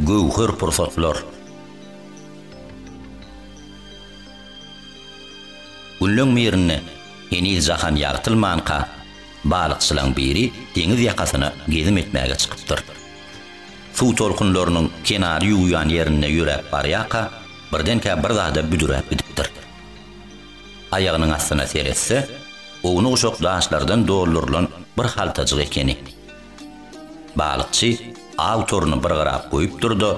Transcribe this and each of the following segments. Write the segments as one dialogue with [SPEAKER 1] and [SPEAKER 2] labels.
[SPEAKER 1] Göwher pursatlar. Günleň birinde heniz jahan ýagtylmanka, balykçylaň biri deňiz ýakasyna gezim etmäge çykypdyr. Suw tolkunlarynyň kenary ýuwýan ýerinde ýöräp barýarka, birdenkä bir zada büdüräp gidipdir. Aýagynyň astyna seretse, ownuk-uşak daşlardan doldurylan bir haltajyk ekeni. Balykçy aw toruny bir gyrap goýupdyr-da,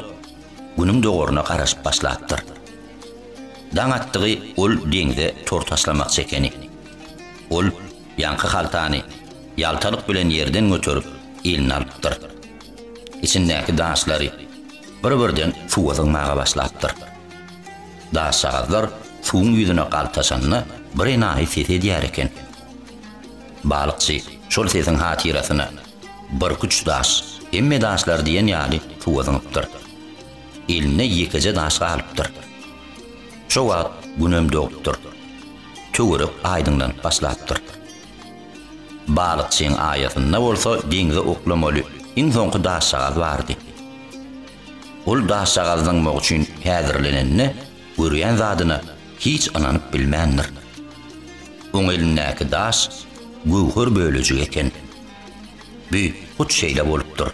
[SPEAKER 1] Günüň dogaryna garaşyp başlapdyr. Daň atdygy ol deňze tor taşlamakçy ekeni. Ol ýaňky haltany ýaltalyk bilen ýerden göterip, eline alypdyr. Içindäki daşlary bir-birden suwa zyňmaga başlapdyr. Daşjagazlar suwuň ýüzüne galtaşanda birenaýy ses edýär eken. Balykçy şol sesiň hatyrasyna birküç daş, hemme daşlar diýen ýaly suwa zyňypdyr. Elinde ýekeje daş galypdyr. Şo wagt günem dogupdyr. Töwerek aýdyňlanyp başlapdyr. Balykçyň aýasynda bolsa deňze oklamaly iň soňky daşjagaz bardy. Ol daşjagazy zyňmak üçin häzirlenende görýän zadyna hiç ynanyp bilmändir. Oň elindäki daş göwher bölejigi eken. Büt hut şeýle bolupdyr.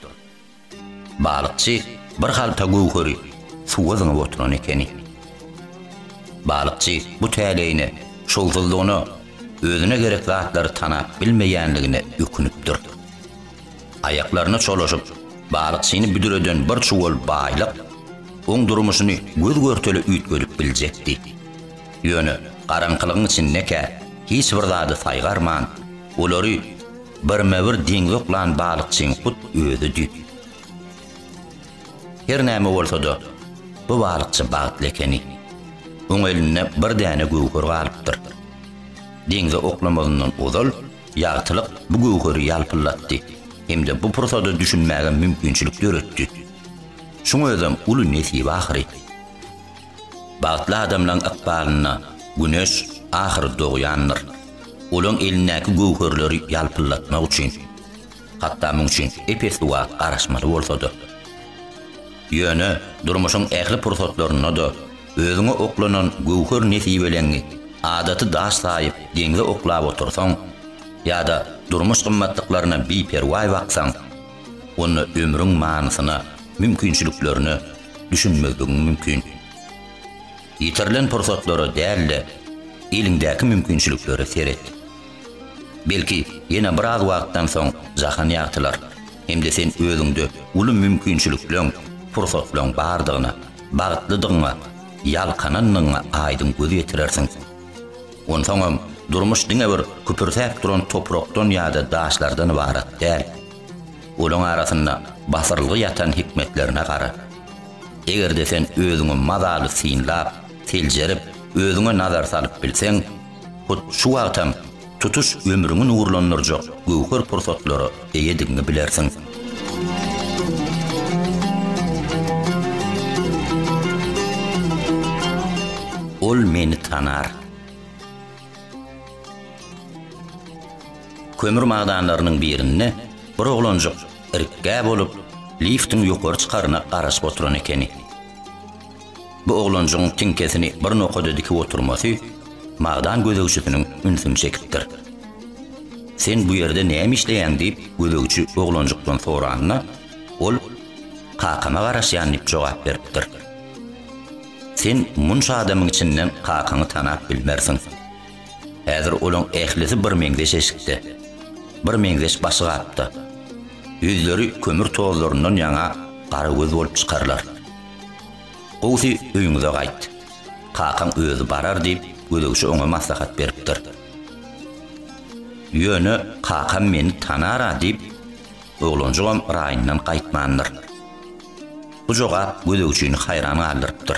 [SPEAKER 1] Balykçy bir halta göwheri suwa zyňyp oturan ekeni. Balykçy bu täleýine, şowsuzlygyna, özüne gerek zatlary tanap bilmeýänligine ökünipdir. Aýaklaryna çolaşyp, balykçyny büdüreden bir çuwal baýlyk oň durmuşyny göz-görtele üýtgedip biljekdi. Ýöne garaňkylygyň içindekä hiç bir zady saýgarman, olary, Birme-bir deňzok lan balykçyň hut özi düýp. Her näme bolsa-da, bu balykçy bagtly ekeni. Oň elinde bir däne göwher galypdyr. Deňze oklamazyndan ozal, ýagtylyk bu göwheri ýalpyldatdy hem-de bu pursada düşünmäge mümkinçilik döretdi. Şuň özem uly nesip ahyry. Bagtly adamlaň ykbalynda güneş ahyry dogýandyr. Olaň elindäki göwherleri ýalpyldatmak üçin, hatda muň üçin epes suwa garaşmaly bolsa-da. Ýöne durmuşyň ähli pursatlarynda-da özüňe oklanan göwher nesibeleňňi adaty daş saýyp deňze oklap otursaň ýa-da durmuş gymmatlyklaryna biperwaý baksaň, onda ömrüň manysyna, mümkinçiliklerine, düşünmezligiň mümkin. Ýitirilen pursatlara däl-de, eliňdäki mümkinçiliklere seret. Belki, ýene biraz wagtdan soň jahan ýagtylar hem-de sen özüňde uly mümkinçilikleň, pursatlaň bardygyna, bagtlydygyňa, ýalkanandygyňa aýdyň göz ýetirersiň. Onsoňam, durmuş diňe bir küpürsäp duran toprakdan ýa-da daşlardan ybarat däl. Olaň arasynda basyrylgy ýatan hikmetlerine gara. Eger-de sen özüňi mazaly synlap, seljerip, özüňe nazar salyp bilseň, hut şu wagtam tutuş ömrüňi nurlandyrjak göwher pursatlara eýedigiňi bilersiň. Ol meni tanar. Kömür magdanlarynyň birinde bir oglanjyk irikgä bolup, liftiň ýokary çykaryna garaşyp oturan ekeni. Bu oglanjygyň tiňkesini bir nokada dikip oturmasy magdan gözegçisiniň ünsüni çekipdir. Sen bu ýerde näme işleýäň diýip, gözegçi oglanjykdan soranda, ol Kakama garaşýan diýip jogap beripdir. Sen munça adamyň içinden kakaňy tanap bilmersiň. Häzir olaň ählisi bir meňzeş eşikde. Bir meňzeş başgapda. Ýüzleri kömür tozlaryndan ýaňa gara göz bolup çykarlar. Gowusy öýüňize gaýt. Kakaň özi barar diýip, gözegçi oňa maslahat beripdir. Ýöne kakam meni tanar-a diýip, oglanjygam raýyndan gaýtmandyr. Bu jogap gözegçini haýran galdyrypdyr.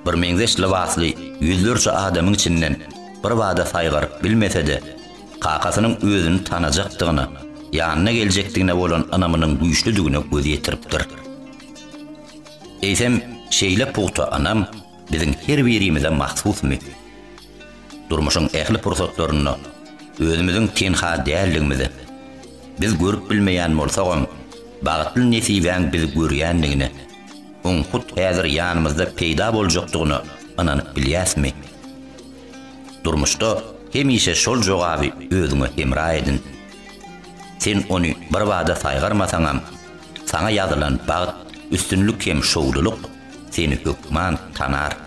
[SPEAKER 1] Birmeňzeş lybasly ýüzlerçe adamyň içinden birbada saýgaryp bilmese-de, kakasynyň özüni tanajakdygyna, ýanyna geljekdigine bolan ynamynyň güýçlüdigine göz ýetiripdir. Eýsem, şeýle pugta ynam biziň her birimize mahsusmy? Durmuşyň ähli pursatlarynda özümiziň tenha däldigimize, Biz görüp bilmeýän bolsagam, bagtly nesibäň bizi görýändigine, oň hut häzir ýanymyzda peýda boljakdygyna ynanyp bilýäsmi? Durmuşda hemişe şol jogaby özüňe hemra edin. Sen ony birbada saýgarmasaňam, saňa ýazylan bagt, üstünlik hem şowlulyk seni hökman tanar.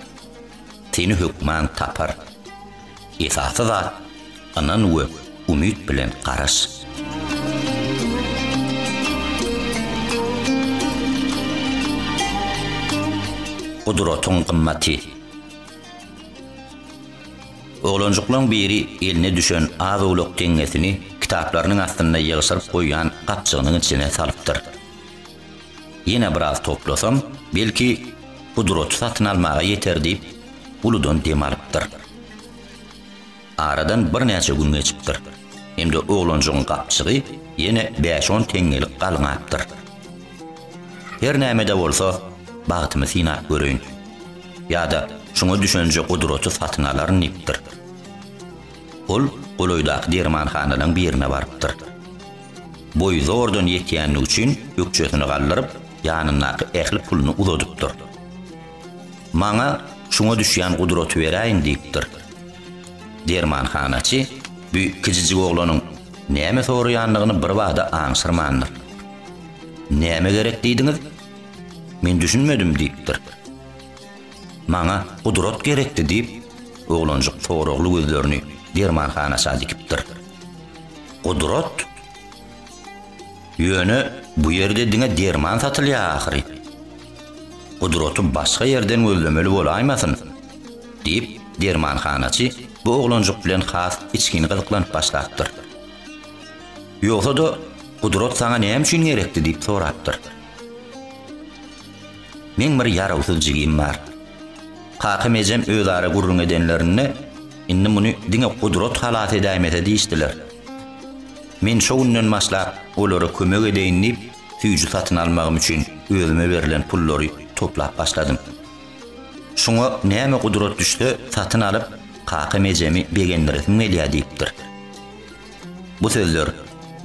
[SPEAKER 1] seni hökman tapar. Esasy zat, ynan we umyt bilen garaş. Gudratyň gymmaty. Oglanjyklaň biri eline düşen az-owlak teňňesini kitaplarynyň astynda ýygşyryp goýan gapjygynyň içine salypdyr. Ýene biraz toplasam, belki, pudraty satyn almaga ýeter diýip, uludan dem alypdyr. Aradan birnäçe gün geçipdir. Hem-de oglanjygyň gapjygy ýene bäş-on teňňelik galňapdyr. Her näme-de bolsa, bagtymy synap göreýin. Ýa-da şuňa düşenje pudraty satyn alaryn diýipdir. Ol golaýdaky dermanhanalaryň birine barypdyr. Boýy zordan ýetýänligi üçin ökjesini galdyryp, ýanyndaky ähli puluny uzadypdyr. Maňa şuňa düşýän gudraty beräýiň diýipdir. Dermanhanaçy bu kijijik oglanyň näme soraýandygyny birbada aňşyrmandyr. Näme gerek diýdiňiz? Men düşünmedim diýipdir. Maňa gudrat gerekdi diýip, oglanjyk soragly gözlerini dermanhanaça dikipdir. Gudrat? Ýöne bu ýerde diňe derman satylýar ahyry. Gudraty başga ýerden gözlemeli bolaýmasyn? diýip, dermanhanaçy bu oglanjyk bilen has içgin gyzyklanyp başlapdyr. Ýogsa-da, Gudrat saňa näme üçin gerekdi diýip sorapdyr. Meň bir ýarawsyz jigim bar. Kakam-ejem özara gürrüň edenlerinde, Indi muny diňe gudrat halas edäýmese diýişdiler. Men şo günden başlap olara kömek edeýin diýip, süýji satyn almagym üçin özüme berlen pullary toplap başladym. Şuňa näme gudrat düşse, satyn alyp, kakam-ejemi begendiresim gelýär diýipdir. Bu sözler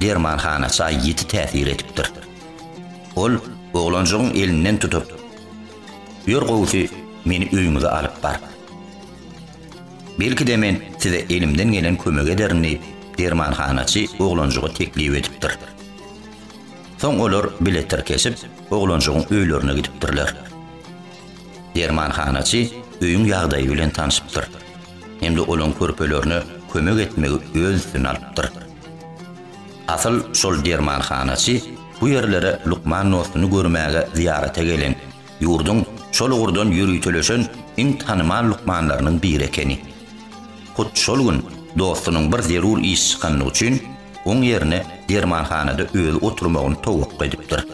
[SPEAKER 1] Derman hana çaý ýiti täsir edipdir. Ol oglanjygyň elinden tutup, Ýör gowusy, meni öýüňize alyp bar. Belki-de men size elimden gelen kömegi ederin diýip, Derman hanaçy oglanjyga teklip edipdir. Soň olar bile tirkeşip, oglanjygyň öýlerine gidipdirler. Derman hanaçy öýüň ýagdaýy bilen tanşypdyr. hem-de olaň körpelerine kömek etmegi öz üstüne alypdyr. Asyl şol dermanhanaçy bu ýerlere lukman dostuny görmäge zyýarata gelen, ýurduň şol ugurdan ýöriteleşen iň tanymal lukmanlarynyň biri ekeni. Hut şol gün dostunyň bir zerur iş çykandygy üçin, oň ýerine dermanhanada özi oturmagyny towakga edipdir.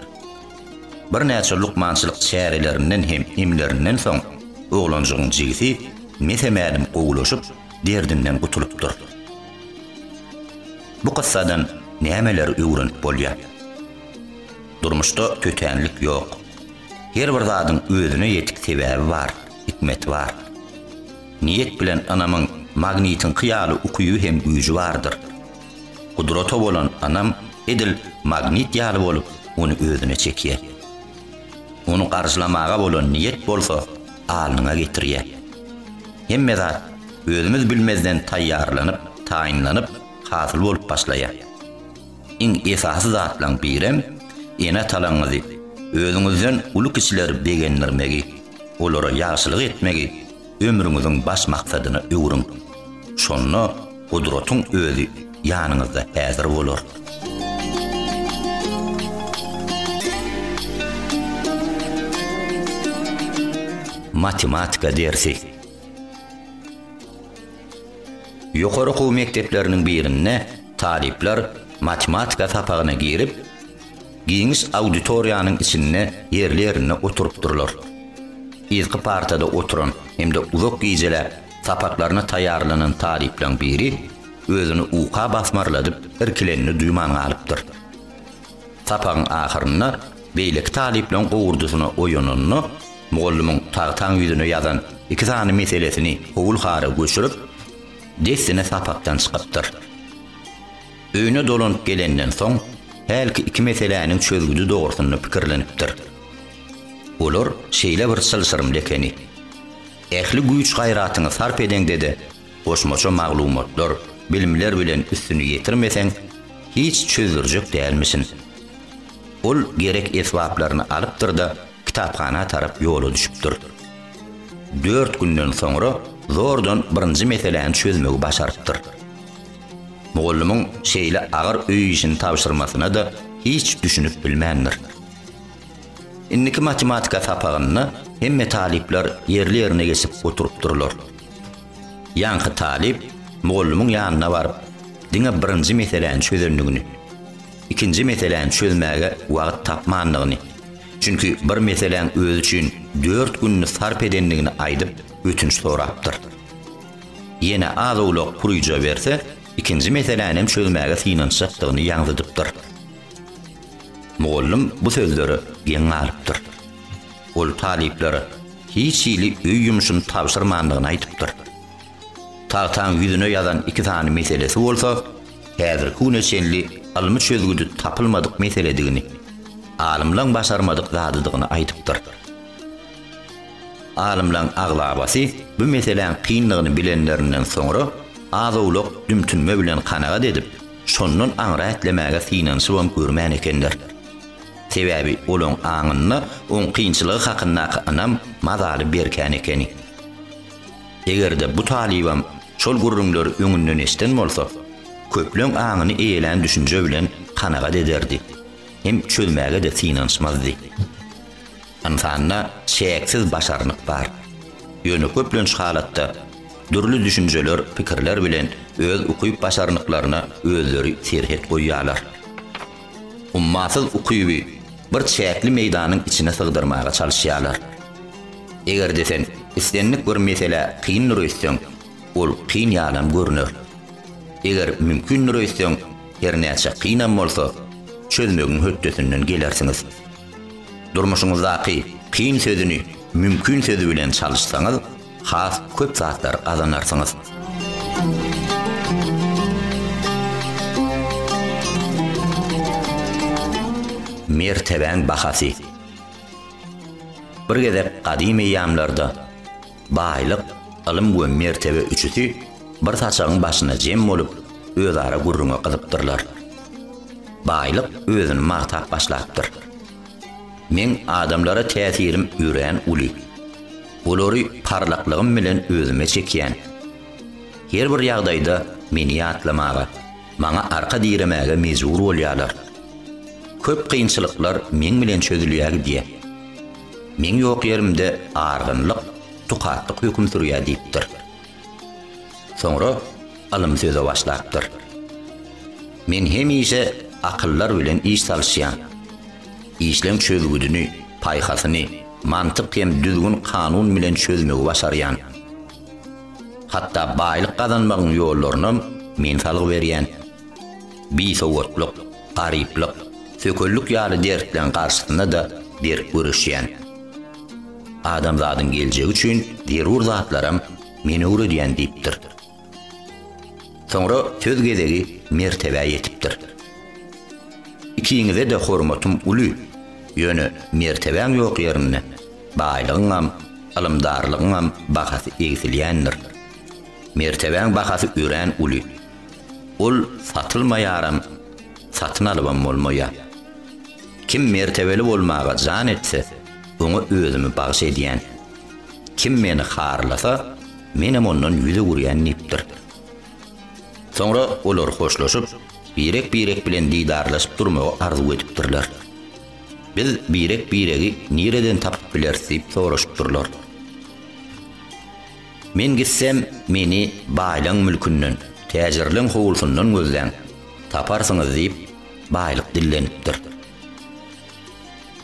[SPEAKER 1] Birnäçe lukmançylyk çärelerinden hem emlerinden soň, oglanjygyň jigisi mese-mälim gowulaşyp, derdinden gutulypdyr. Bu kyssadan nämeleri öwrenip bolýar? Durmuşda tötänlik ýok. Her bir zadyň özüne ýetik sebäbi bar, hikmeti bar. Niýet bilen ynamyň magnitiňki ýaly ukyby hem güýji bardyr. Gudrata bolan ynam edil magnit ýaly bolup, ony özüne çekýär. Ony garşylamaga bolan niýet bolsa alnyňa getirýär. Hemme zat özümiz bilmezden taýýarlanyp, taýynlanyp, hasyl bolup başlaýar. Iň esasy zatlaryň birem ene-atalaryňyzy, özüňizden uly kişileri begendirmegi, olara ýagşylyk etmegi, ömrüňiziň baş maksadyna öwrüň. Şonda Gudratyň Özi ýanyňyzda häzir bolar. Matematika dersi. Ýokary okuw mekdepleriniň birinde talyplar matematika sapagyna girip, Giňiş auditoriýanyň içinde ýerli-ýerinde oturypdyrlar. Yzky partada oturan hem-de uzak gijeläp sapaklaryna taýýarlanan talyplaň biri özüni uka basmarladyp irkilenini duýman galypdyr. Sapagyň ahyrynda beýleki talyplaň gowurdysyna oýananda, mugallymyň tagtaň ýüzüne ýazan iki sany meselesini howul-hara göçürip, dessine sapakdan çykypdyr. Öýüne dolanyp gelenden soň, hälki iki meseläniň çözgüdi dogrusynda pikirlenipdir. Olar şeýle bir çylşyrymly ekeni. Ähli güýç-gaýratyňy sarp edeňde-de, goşmaça maglumatlar, bilimler bilen üstüni ýetirmeseň, hiç çözdürjek dälmişin. Ol gerek esbaplaryny alypdyr-da, kitaphana tarap ýola düşüpdir. Dört günden soňra zordan birinji meseläni çözmegi başarypdyr. Mugallymyň şeýle agyr öý işini tabşyrmasyna-da hiç düşünip bilmändir. Indiki matematika sapagynda hemme talyplar ýerli-ýerine geçip oturypdyrlar. Ýaňky talyp mugallymyň ýanyna baryp, diňe birinji meseläni çözendigini, ikinji meseläni çözmäge wagt tapmandygyny, çünki bir meseläň özi üçin dört gününi sarp edendigini aýdyp, ötünç sorapdyr. ýene az-owlak puryja berse, ikinji meselänem çözmäge synanyşjakdygyny ýaňzydypdyr. Mugallym bu sözlere geň galypdyr. Ol talyplara hiç hili öý ýumşuny tabşyrmandygyny aýdypdyr. Tagtaň ýüzüne ýazan iki sany meselesi bolsa, häzirki güne çenli ylmy çözgüdi tapylmadyk meseledigini, alymlaň başarmadyk zadydygyny aýdypdyr. Alymlaryň aglabasy bu meseläň kynlygyny bilenlerinden soňra, az-owlak dümtünme bilen kanagat edip, şondan aňry ätlemäge synanyşybam görmän ekenler. Sebäbi olaryň aňynda oň kynçylygy hakyndaky ynam mazaly berkän ekeni. Eger-de bu talybam şol gürrüňleri öňünden eşden bolsa, köpleň aňyny eýelän düşünje bilen kanagat ederdi hem çözmäge-de synanyşmazdy. Ynsanda çäksiz başarnyk bar. Ýöne köplenç halatda dürli düşünjeler, pikirler bilen öz ukyp-başarnyklaryna özleri serhet goýýarlar. Ummasyz ukyby bir çäkli meýdanyň içine sygdyrmaga çalyşýarlar. Eger-de sen islendik bir meselä kyndyr öýtseň, ol kyn ýalam görner. Eger mümkindir öýtseň, hernäçe kynam bolsa, çözmegiň hötdesinden gelersiňiz. Durmuşyňyzdaky kyn sözüni mümkin sözi bilen çalyşsaňyz, has köp zatlar gazanarsyňyz. Mertebäň bahasy. Bir gezek gadym eýýamlarda. Baýlyk, ylym we mertebe üçüsi bir saçagyň başynda jem bolup, özara gürrüňe gyzypdyrlar. Baýlyk özüni magtap başlapdyr. Meň adamlara täsirim örän uly. Olary parlaklygym bilen özüme çekýän. Her bir ýagdaýda meni ýatlamaga, maňa arka diremäge mejbur bolýarlar. Köp kynçylyklar meň bilen çözülýär gidýär. Meň ýok ýerimde argynlyk, tukatlyk höküm sürýär diýipdir. Soňra ylym söze başlapdyr. Men hemişe akyllar bilen iş salyşýan. Işleň çözgüdini, paýhasyny mantyk hem düzgün-kanun bilen çözmegi başarýan. Hatda baýlyk gazanmagyň ýollarynam men salgy berýän. bisowatlyk, garyplyk, sökellik ýaly dertleriň garşysynda-da berk göreşýän. Adamzadyň geljegi üçin zerur zatlaram men öwredýän diýipdir. Soňra söz gezegi Mertebä ýetipdir. Ikiňize-de hormatym uly, ýöne mertebäň ýok ýerinde baýlygyňam, ylymdarlygyňam bahasy egsilýändir. Mertebäň bahasy örän uly. Ol satylmaýaram, satyn alybam bolmaýar. Kim mertebeli bolmaga jan etse, oňa özümi bagyş edýän. Kim meni harlasa, menem ondan ýüz öwürýän diýipdir. Soňra olar hoşlaşyp, birek-birek bilen didarlaşyp durmagy arzuw edipdirler. Biz birek-biregi nireden tapyp bileris diýip soraşypdyrlar. Men gitsem, meni baýlaň mülkünden, täjirleň howlusyndan gözläň, taparsyňyz diýip, baýlyk dillenipdir.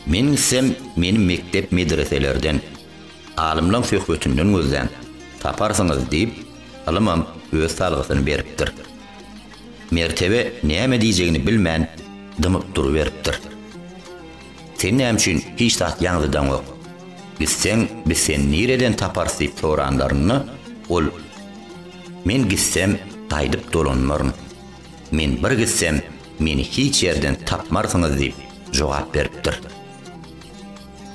[SPEAKER 1] Men gitsem, meni mekdep-medreselerden, alymlaň söhbetinden gözläň, taparsyňyz diýip, ylymam öz salgysyny beripdir. Mertebe näme diýjegini bilmän, dymyp duruberipdir. Sen näme üçin hiç zat ýaňzydaňok? Gitseň, biz seni nireden taparys diýip soranlarynda, ol, Men gitsem, gaýdyp dolanmaryn. Men bir gitsem, meni hiç ýerden tapmarsyňyz diýip, jogap beripdir.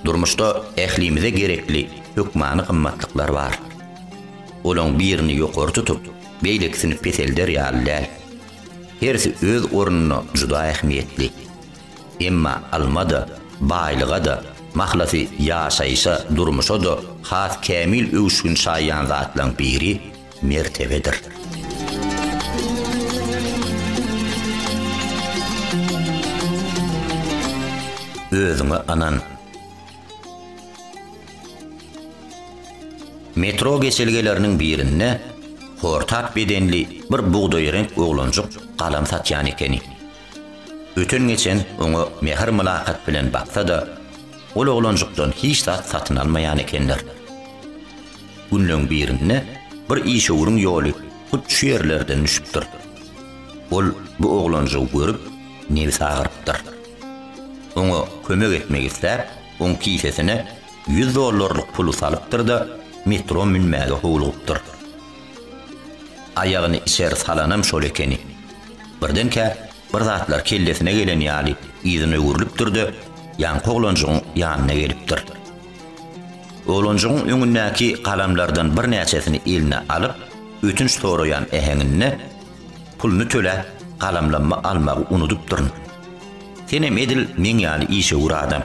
[SPEAKER 1] Durmuşda ählimize gerekli hökmany gymmatlyklar bar. Olaryň birini ýokary tutup, beýlekisini peselder ýaly däl. Hersi öz ornunda juda ähmiýetli. Emma alma-da, baýlyga-da, mahlasy ýaşaýşa, durmuşa-da has kämil öwüşgin çaýýan zatlaryň biri mertebedir. Özüňe ynan. Metro geçelgeleriniň birinde hortap bedenli bir bugdaýreňk oglanjyk galam satýan ekeni. Öten-geçen oňa mähir-mylakat bilen baksa-da, ol oglanjykdan hiç zat satyn almaýan ekenler. Günleň birinde bir işewüriň ýoly hut şu ýerlerden düşüpdir. Ol bu oglanjygy görüp, nebsi agyrypdyr. Oňa kömek etmek isläp, oň kisesine ýüz dollarlyk puly salypdyr-da, metro münmäge howlugypdyr. Aýagyny içeri salanam şol ekeni. Birdenkä bir zatlar kellesine gelen ýaly yzyna öwrülipdir-de, ýaňky oglanjygyň ýanyna gelipdir. Oglanjygyň öňündäki galamlardan birnäçesini eline alyp, ötünç soraýan äheňinde, Puluny töläp, galamlammy almagy unudypdyryn. Senem edil meň ýaly işewür adam.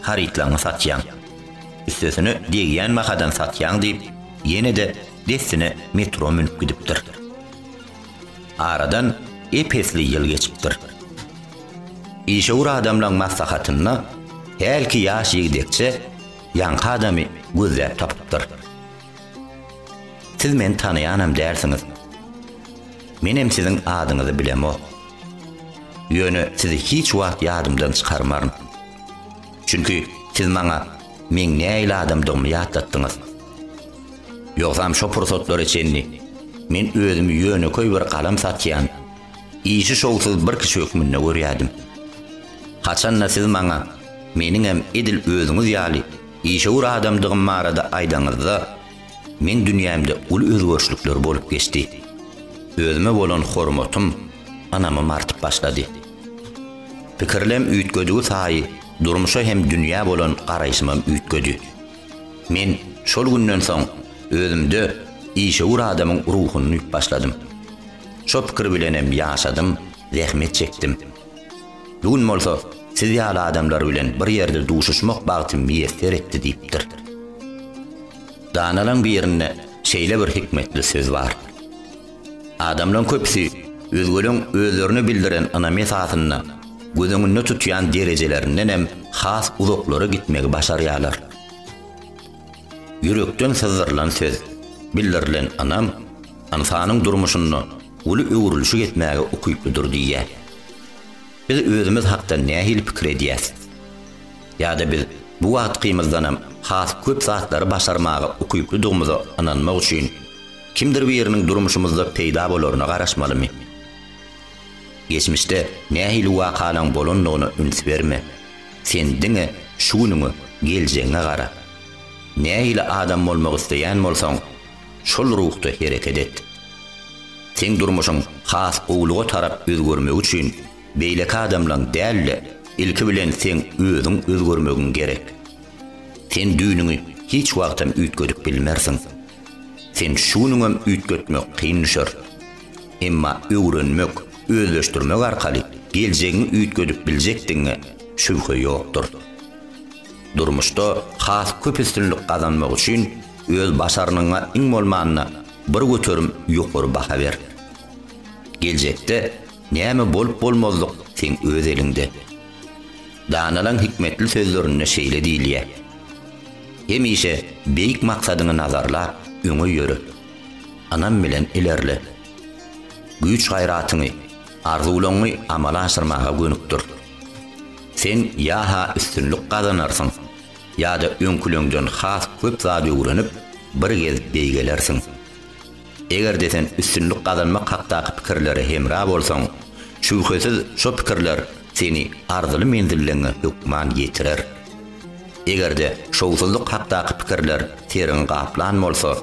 [SPEAKER 1] harytlaňňy satýaň. Üstesine degýän bahadan satýaň diýip, ýene-de dessine metro münüp gidipdir. Aradan ep-esli ýyl geçipdir. Işewür adamlaň maslahatynda hälki ýaş ýigdekçe ýaňky adamy gözläp tapypdyr. Siz meni tanaýanam dälsiňiz. Menem siziň adyňyzy bilemok. Ýöne sizi hiç wagt ýadymdan çykarmaryn. Çünki siz maňa meň nähili adamdygymy ýatlatdyňyz. Ýogsam şo pursatlara çenli men özümi ýönekeý bir galam satýan, işi şowsuz bir kişi hökmünde görýärdim. Haçan-da siz maňa meniňem edil özüňiz ýaly işewür adamdygym barada aýdaňyzda, Meň dünýämde uly özgerişlikler bolup geçdi. Özüme bolan hormatym ynamym artyp başlady. Pikirlem üýtgedigi saýy durmuşa hem dünýä bolan garaýşymam üýtgedi. Men şol günden soň özümde işewür adamyň ruhuny duýup başladym. Şo pikir bilenem ýaşadym, zähmet çekdim. Bu gün bolsa siz ýaly adamlar bilen bir ýerde duşuşmak bagty miýesser etdi diýipdir. Danalaň birinde şeýle bir hikmetli söz bar. Adamlaň köpüsi özgeleň özlerine bildiren ynamy esasynda göz öňünde tutýan derejelerinden hem has uzaklara gitmegi başarýarlar. Ýürekden syzdyrylan söz, bildirilen ynam ynsanyň durmuşynda uly öwrülişik etmäge ukyplydyr diýýär. Biz özümiz hakda nähili pikir edýäs? Ýa-da biz bu wagtkymyzdanam has köp zatlary başarmaga ukyplydygymyza ynanmak üçin kimdir biriniň durmuşymyzda peýda bolaryna garaşmalymy? Geçmişde nähili wakalaň bolandygyna üns berme. Sen diňe şu günüňe, geljegiňe gara. Nähili adam bolmak isleýän bolsaň, Şol ruhda hereket et. Seň durmuşyň has gowulyga tarap özgermegi üçin beýleki adamlaň däl-de, ilki bilen seň özüň özgermegiň gerek. Sen düýnüňi hiç wagtam üýtgedip bilmersiň. Sen şu günüňem üýtgetmek kyn düşer. Emma öwrenmek, özleşdirmek arkaly geljegiňi üýtgedip biljekdigiňe şübhe ýokdur. Durmuşda has köp üstünlik gazanmak üçin öz başarnygyňa iň bolmanda bir göterim ýokary baha ber. Geljekde näme bolup bolmazlyk seň öz eliňde. Danalaň hikmetli sözlerinde şeýle diýilýär, Hemişe beýik maksadyňy nazarlap öňe ýöre. Ynam bilen ilerle. Güýç-gaýratyňy, arzuwlaňňy amala aşyrmaga gönükdir. Sen ýa-ha üstünlik gazanarsyň, ýa-da öňküleňden has köp zat öwrenip, bir gezk beýgelersiň. Eger-de sen üstünlik gazanmak hakdaky pikirlere hemra bolsaň, şübhesiz şo pikirler seni arzyly menzilligiňe hökman ýetirer. Eger-de şowsuzlyk hakdaky pikirler seriňi gaplan bolsa,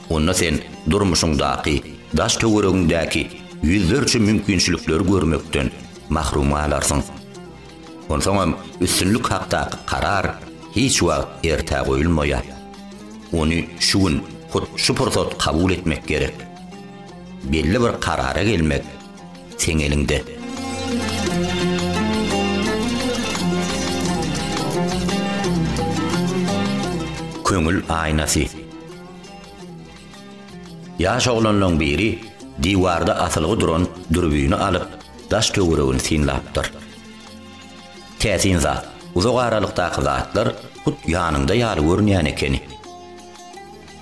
[SPEAKER 1] onda sen durmuşyňdaky daş-töweregiňdäki ýüzlerçe mümkinçilikleri görmekden, mahrum galarsyň. Onsoňam üstünlik hakdaky karar hiç wagt ertä goýulmaýar. Ony şu gün, hut şu pursat kabul etmek gerek. Belli bir karara gelmek seň eliňde. Köňül aýnasy. Ýaş oglanlaň biri diwarda asylgy duran dürbini alyp, daş-töweregini synlapdyr. Täsin zat, uzak aralykdaky zatlar hut ýanyňda ýaly görünýän ekeni.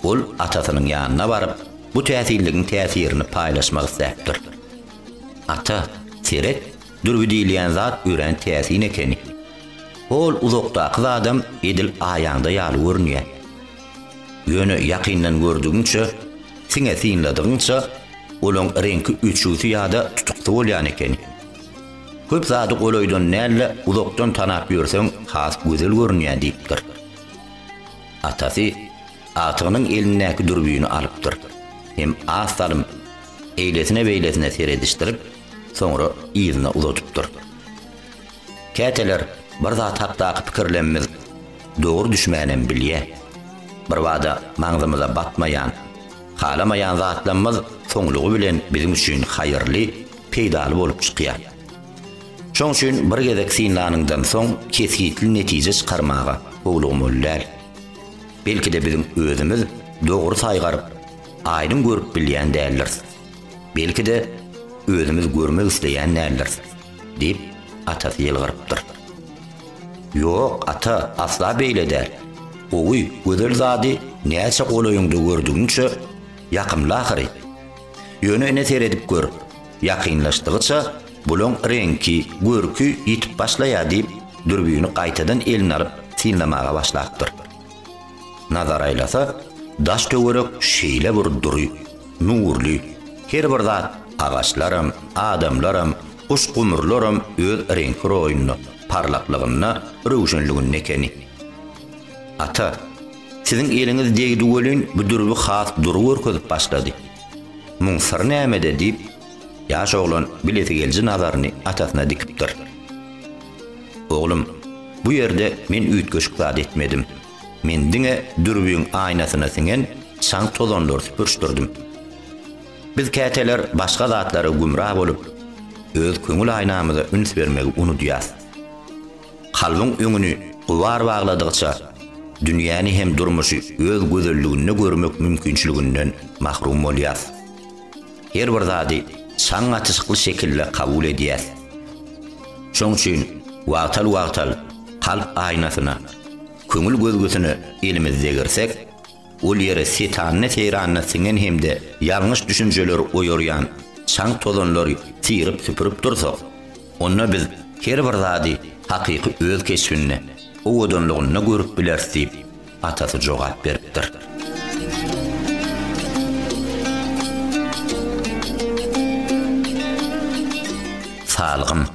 [SPEAKER 1] Ol atasynyň ýanyna baryp, bu täsinligiň täsirini paýlaşmak isläpdir. Ata, seret, dürbi diýilýän zat örän täsin ekeni. Hol uzakdaky zadam edil aýaňda ýaly görünýär. Ýöne ýakyndan gördügiňçe, siňe synladygyňça, olaň reňki öçügsi ýa-da tutuksy bolýan ekeni. Köp zady golaýdan däl-de, uzakdan tanap ýörseň, has gözel görünýär, diýipdir. Atasy agtygynyň elindäki dürbini alypdyr hem az salym eýlesine-beýlesine seredişdirip, soňra yzyna uzadypdyr. Käteler bir zat hakdaky pikirlenimiz dogry düşmänem bilýä. Birbada maňzymyza batmaýan, halamaýan zatlamyz soňlugy bilen biziň üçin haýyrly, peýdaly bolup çykýar. Şoň üçin bir gezek synlanyňdan soň kesgitli netije çykarmaga howlugmaly däl. Belki-de biziň özümiz dogry saýgaryp, aýdyň görüp bilýän däldiris. Belki-de özümiz görmek isleýän däldiris. Diýip, atasy ýylgyrypdyr. Ýok, ata, asla beýle däl. Gowy, gözel zady näçe golaýyňda gördügiňçe, ýakymly ahyry. Ýöne ine seredip gör, ýakynlaşdygyça, bulaň reňki, görki ýitip başlaýar, diýip, dürbini gaýtadan eline alyp, synlamaga başlapdyr. Nazar aýlasa, daş-töwerek şeýle bir dury, nurly, her bir zat, agaçlaram, adamlaram, guş-gumrularam öz reňki-roýunda, parlaklygynda, röwşenliginde ekeni. Ata, siziň eliňiz degdi welin, bu dürbi has dury görkezip başlady. Muň syry nämede? diýip, Ýaş oglan bilesigelici nazaryny atasyna dikipdir. Oglum, bu ýerde men üýtgeşik zat etmedim. Men diňe dürbüň aýnasyna siňen çaň-tozanlary süpürişdirdim. Biz käteler başga zatlara gümra bolup, öz köňül aýnamyza üns bermegi unudýas. Kalbyň öňüni gubar bagladygyça, dünýäni hem durmuşy öz gözelliginde görmek mümkinçiliginden mahrum bolýas. Her bir zady çaň atyşykly şekilde kabul edýäs. Şoň üçin wagtal-wagtal kalp aýnasyna, köňül gözgüsine elimizi degirsek, ol ýere setanyna-seýranyna siňen hem-de ýalňyş düşünjeleri oýarýan çaň-tozanlary syryp-süpürip dursak, onda biz her bir zady hakyky öz keşbinde, owadanlygynda görüp bileris diýip, Atasy jogap beripdir. Salgym.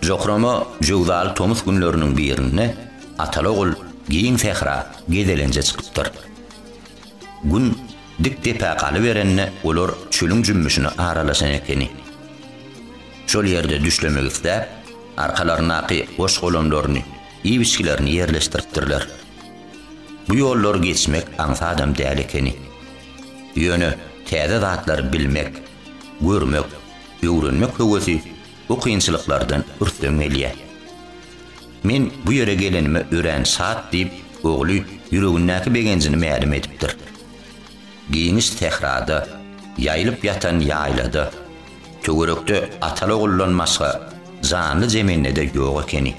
[SPEAKER 1] Jokrama jöwzaly tomus günleriniň birinde ataly-ogul giň sähra gezelenje çykypdyr. Gün dik depä galyberende olar çölüň jümmüşine aralaşan ekeni. Şol ýerde düşlemek isläp, arkalaryndaky goş-golamlaryny, iwiçgilerini ýerleşdiripdirler. Bu ýollary geçmek aňsadam däl ekeni. Ýöne täze zatlary bilmek, görmek, öwrenmek höwesi bu kynçylyklardan ürsden gelýär. Men bu ýere gelenime örän şat diýip, ogly ýüregindäki begenjini mälim edipdir. Giňiş sährada, ýaýylyp ýatan ýaýlada, töwerekde ataly-oguldan başga janly zemindede ýok ekeni.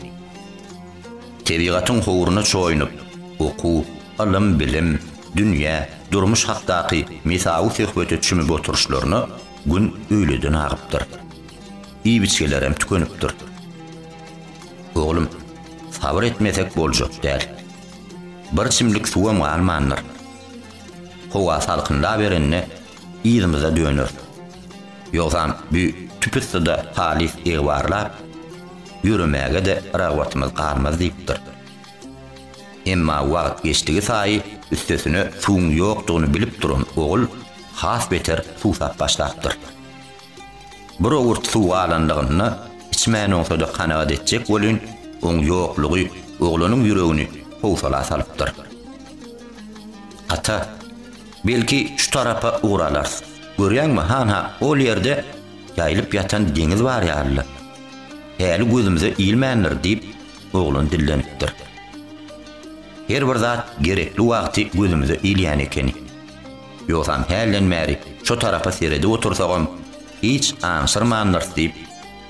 [SPEAKER 1] Tebigatyň howruna çoýunyp, oku, ylym, bilim, dünýä, durmuş hakdaky mesawy söhbete çümüp oturyşlaryna gün öýleden agypdyr. Iýip-içgelerem tükenipdir. Oglum, sabyr etmesek boljak däl. Bir çimlik suwam galmandyr. Howa salkynlaberende yzymyza döneris. Ýogsam bu tüpüssuda halys egbarlap, ýöremäge-de ragbatymyz galmaz diýipdir. Emma wagt geçdigi saýy üstesine suwuň ýokdugyny bilip duran ogul has beter suwsap başlapdyr. Bir owurt suw galanlygynda içmän oňsada kanagat etjek welin, oň ýoklugy oglanyň ýüregini howsala salypdyr. Ata, belki şu tarapa ugur alarys. Görýäňmi, han-ha ol ýerde ýaýylyp ýatan deňiz bar ýaly-la. Häli gözümize ilmändir, diýip, oglan dillenipdir. Her bir zat gerekli wagty gözümize ilýän ekeni. Ýogsam hälden bäri şo tarapa seredip otursagam, hiç aňşyrmandyrys diýip,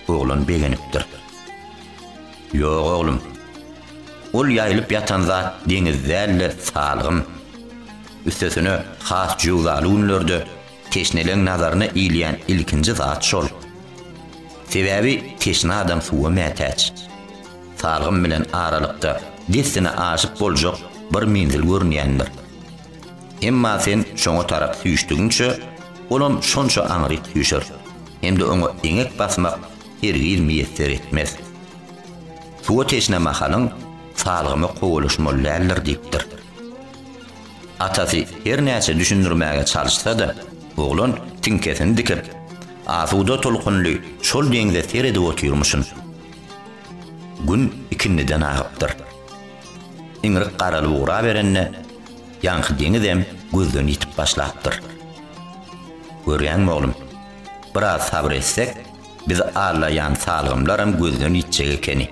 [SPEAKER 1] oglan begenipdir. Ýok, oglum. Ol ýaýylyp ýatan zat deňiz däl-de, salgym. Üstesine, has jöwzaly günlerde teşneleň nazaryna ilýän ilkinji zat şol. Sebäbi teşne adam suwa mätäç. Salgym bilen aralykda dessine aşyp boljak bir menzil görünýändir. Emma sen şoňa tarap süýşdügiňçe, olam şonça aňryk süýşer, hem-de oňa eňek basmak hergiz miýesser etmez. Suwa teşne mahalyň, salgyma kowalaşmaly däldir diýipdir. Atasy her näçe düşündirmäge çalyşsa-da, oglan tiňkesini dikip, asuda tolkunly şol deňze seredip otyrmyşyn. Gün ikindiden agypdyr. Iňrik garalyp ugraberende, ýaňky deňizem gözden ýitip başlapdyr. Görýäňmi, oglum, biraz sabyr etsek, bizi allaýan salgymlaram gözden ýitjek ekeni.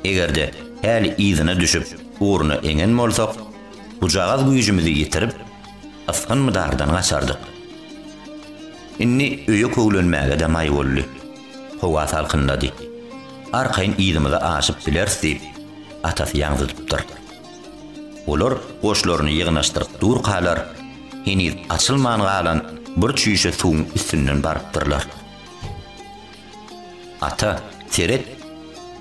[SPEAKER 1] Eger-de häli yzyna düşüp, ugruna eňen bolsak, bujagaz güýjümizi ýitirip, ysgyn-mydardan gaçardyk. Indi öýe köwlenmäge-de maý boldy. Howa salkynlady. Arkaýyn yzymyza aşyp bileris diýip, atasy ýaňzydypdyr. Olar goşlaryny ýygnaşdyryp durkalar, heniz açylman galan bir çüýşe suwuň üstünden barypdyrlar. Ata, seret,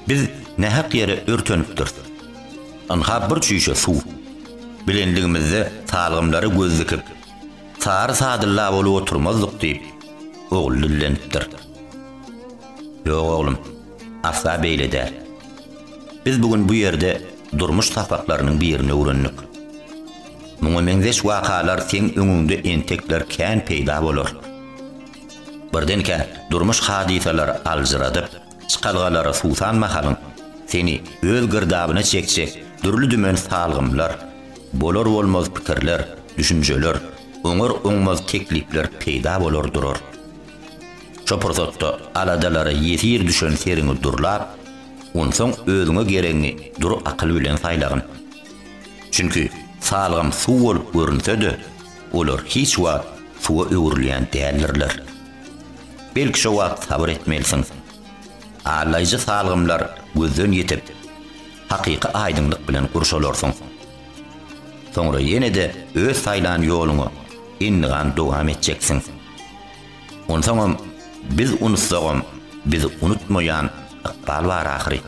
[SPEAKER 1] biz nähak ýere örtenipdiris. Ynha bir çüýşe suw. Bilenligimizde salgymlary göz dikip, Sary Sadylla bolup oturmazdyk, diýip, ogly dillenipdir. Ýok, oglum, asla beýle däl. Biz bu gün bu ýerde durmuş sapaklarynyň birini öwrendik. Muňa meňzeş wakalar seň öňüňde entekler kän peýda bolar. Birdenkä durmuş hadysalary aljyradyp, Çykalgalara suwsan mahalyň, seni öz girdabyna çekjek dürli-dümen salgymlar, bolar-bolmaz pikirler, düşünjeler, oňar-oňmaz teklipler peýda bolar durar. Şo pursatda aladalara ýesir düşen seriňi durlap, onsoň özüňe geregiňi dury akyl bilen saýlagyn. Çünki salgym suw bolup görünse-de, olar hiç wagt suwa öwrülýän däldirler. Belki şo wagt sabyr etmelisiň. Allaýjy salgymlar gözden ýitip, hakyky aýdyňlyk bilen gurşalarsyň. Soňra ýene-de öz saýlan ýoluňy endigan dowam etjeksiň. Onsoňam biz unutsagam bizi unutmaýan ykbal bar ahyry.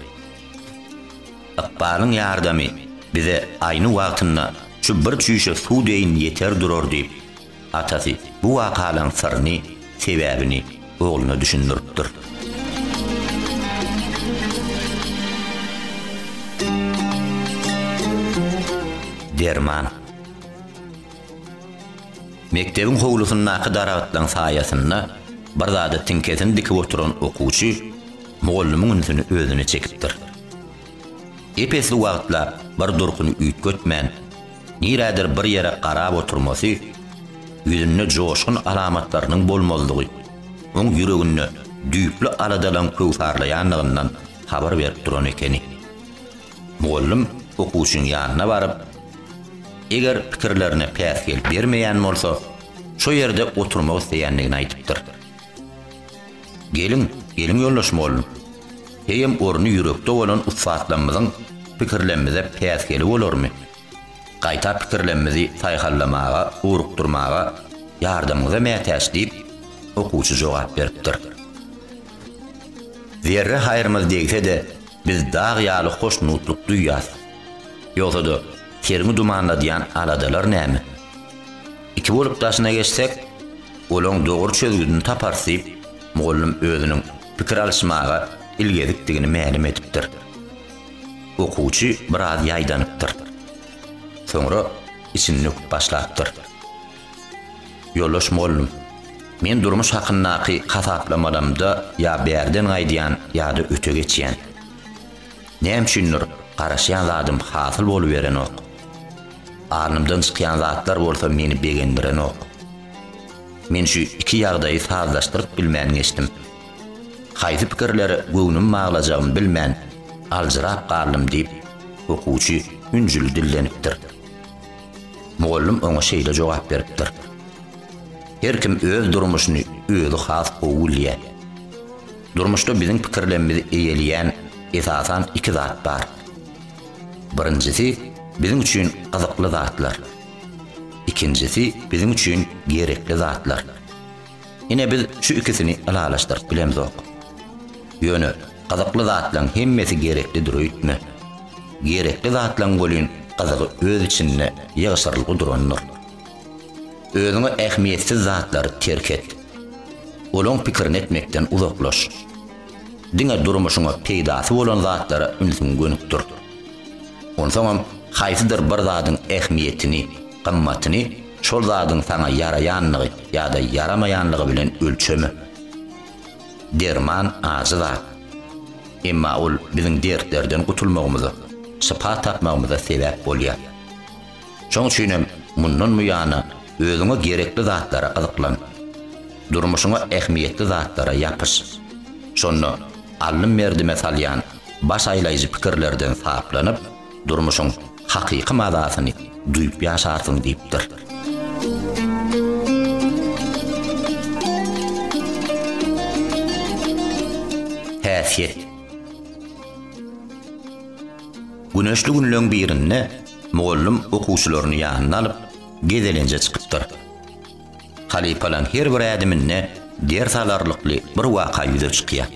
[SPEAKER 1] Ykbalyň ýardamy bize aýny wagtynda şu bir çüýşe suw deýin ýeter durar diýip, Atasy bu wakalaň syryny, sebäbini ogluna düşündiripdir. Derman. Mekdebiň howlusyndaky daragtlaň saýasynda bir zada tiňkesini dikip oturan okuwçy mugallymyň ünsüni özüne çekipdir. Ep-esli wagtlap bir durkuny üýtgetmän, nirädir bir ýere garap oturmasy, ýüzünde joşgun alamatlarynyň bolmazlygy oň ýüreginde düýpli aladalaryň köwsarlaýandygyndan habar berip duran ekeni. Mugallym okuwçynyň ýanyna baryp, eger pikirlerine päsgel bermeýän bolsa, şo ýerde oturmak isleýändigini aýdypdyr. Geliň, geliň ýoldaş mugallym. Eýýäm orny ýürekde bolan ussatlarymyzyň pikirlemimize päsgeli bolarmy? Gaýta pikirlemimizi saýhallamaga, ugrukdyrmaga ýardamyňyza mätäç, diýip, okuwçy jogap beripdir. Zerre haýrymyz degse-de, biz dag ýaly hoşnutlyk duýýas. Ýogsa-da, seriňi dumanladýan aladalar näme? Iki bolup daşyna geçsek, olaň dogry çözgüdini taparys diýip, mugallym özüniň pikir alyşmaga ilgezikdigini mälim edipdir. Okuwçy biraz ýaýdanypdyr. Soňra içini döküp başlapdyr. Ýoldaş mugallym, men durmuş hakyndaky hasaplamalamda ýa bärden gaýdýan ýa-da öte geçýän. Näme üçindir, garaşýan zadym hasyl boluberenok. Alnymdan çykýan zatlar bolsa meni begendirenok. Men şu iki ýagdaýy sazlaşdyryp bilmän geçdim. Haýsy pikirlere göwnümi baglajagymy bilmän, aljyrap galdym diýip, okuwçy ünjüli dillenipdir. Mugallym oňa şeýle jogap beripdir. Her kim öz durmuşyny özi has gowy bilýär. Durmuşda biziň pikirlerimizi eýeleýän esasan iki zat bar. Birinjisi biziň üçin gyzykly zatlar. Ikinjisi biziň üçin gerekli zatlar. Ine biz şu ikisini ylalaşdyryp bilemzok. Ýöne gyzykly zatlaryň hemmesi gereklidir öýtme. Gerekli zatlaryň welin gyzygy öz içinde ýygşyrylgy durandyr. Özüňe ähmiýetsiz zatlary terk et. Olaň pikirini etmekden uzaklaş. Diňe durmuşyňa peýdasy bolan zatlara ünsüňi gönükdir. Onsoňam haýsydyr bir zadyň ähmiýetini, gymmatyny şol zadyň saňa ýaraýanlygy ýa-da ýaramaýanlygy bilen ölçeme. Derman ajy zat. Emma ol biziň dertlerden gutulmagymyza, şypa tapmagymyza sebäp bolýar. Şoň üçin hem mundan buýana özüňe gerekli zatlara gyzyklan. Durmuşyňa ähmiýetli zatlara ýapyş. Şonda allym merdime salýan baş aýlaýjy pikirlerden saplanyp, durmuşyň hakyky mazasyny duýup ýaşarsyň diýipdir. Häsiýet. Güneşli günleň birinde. Mugallym okuwçylaryny ýanyna alyp, gezelenje çykypdyr. Halypalaň her bir ädiminde ders alarlykly bir waka ýüze çykýar.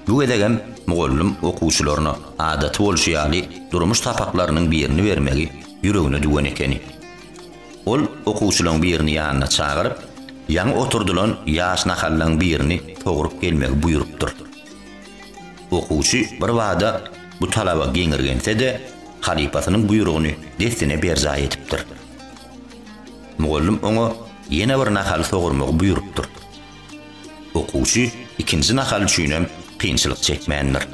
[SPEAKER 1] Bu gezegem mugallym okuwçylaryna adaty bolşy ýaly durmuş sapaklarynyň birini bermegi ýüregine düwen ekeni. Ol okuwçylaň birini ýanyna çagyryp, ýaňy oturdylan ýaş nahallaň birini sogrup gelmegi buýrupdyr. Okuwçy birbada bu talaba geňirgense-de, halypasynyň buýrugyny dessine berjaý edipdir. Mugallym oňa ýene bir nahaly sogurmagy buýrupdyr. Okuwçy ikinji nahal üçinem kynçylyk çekmändir.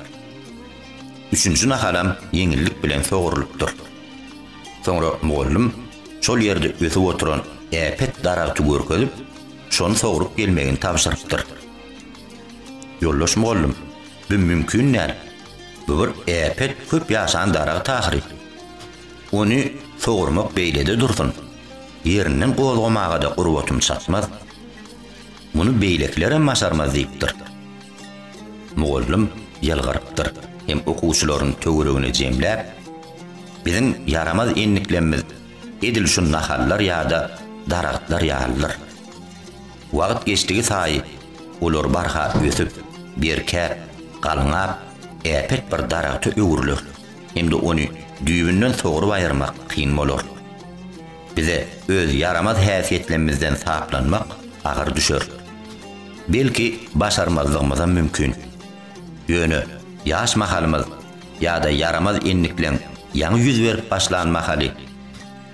[SPEAKER 1] Üçünji nahalam ýeňillik bilen sogurylypdyr. Soňra mugallym şol ýerde ösüp oturan äpet daragty görkezip, şony sogrup gelmegini tabşyrypdyr. Ýoldaş mugallym, bu mümkin däl. Bu bir äpet köp ýaşan daragt ahyry. Ony sogurmak beýlede dursun, ýerinden gozgamaga-da gurbatym çatmaz. Muny beýlekiler hem başarmaz diýipdir. Mugallym ýylgyrypdyr hem okuwçylaryny töweregine jemläp, Biziň ýaramaz endiklemimiz edil şu nahallar ýa-da daragtlar ýalydyr. Wagt geçdigi saýy olar barha ösüp, berkäp, galňap, äpet bir daragta öwrüler hem-de ony düýbünden sogrup aýyrmak kyn bolar. Bize öz ýaramaz häsiýetlemizden saplanmak agyr düşer. Belki, başarmazlygymyzam mümkin. Ýöne ýaş mahalymyz ýa-da ýaramaz endikleň ýaňy ýüz berip başlan mahaly